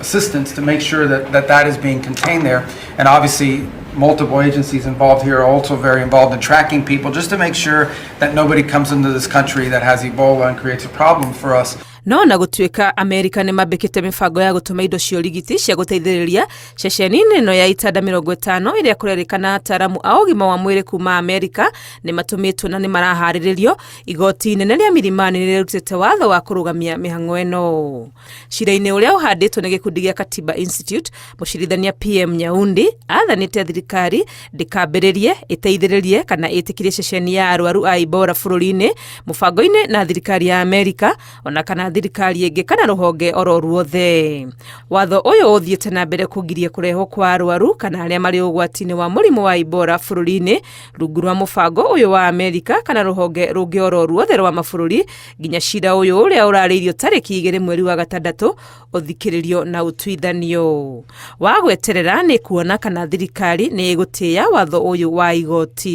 assistance to make sure that that, that is being contained there. And obviously, multiple agencies involved here are also very involved in tracking people just to make sure that nobody comes into this country that has Ebola and creates a problem for us. no na gũtuĩka amerika nĩ mambĩkĩte mĩbango ya gũtũma indo cia ũrigiti cia gũteithĩrĩria ceceni-inĩ ĩno ya itanda mĩrongo ĩtano ĩrĩa kũrerĩkana ataaramu a ũgima wa mwĩrĩ kuma amerika nĩ matũmĩtwo na nĩ maraharĩrĩrio igoti inene rĩa mirimani nĩ rĩrutĩte watho wa kũrũgamia mĩhang'o ĩno Cira-inĩ ũrĩa ũhandĩtwo nĩ gĩkundi gĩa Katiba Institute, mũcirithania PM Nyaundi athanĩte thirikari ndĩkambĩrĩrie, ĩteithĩrĩrie kana ĩtĩkirie ceceni ya arwaru a Ibora bũrũri-inĩ mũbango-inĩ na thirikari ya Amerika ona kana thirikari ĩngĩ kana rũhonge oro ruothe. Watho ũyũ ũthiĩte na mbere kũgiria kũrehwo kwa arwaru kana arĩa marĩ ũgwati-inĩ wa mũrimũ wa Ibora bũrũri-inĩ rungu rwa mũbango ũyũ wa Amerika kana rũhonge rũngĩ oro ruothe rwa mabũrũri nginya cira ũyũ ũrĩa ũrarĩirio tarĩki igĩrĩ mweri wa gatandatũ ũthikĩrĩrio na ũtuithanio wa gweterera nĩ kuona kana thirikari nĩ ĩgũtĩya watho ũyũ wa igoti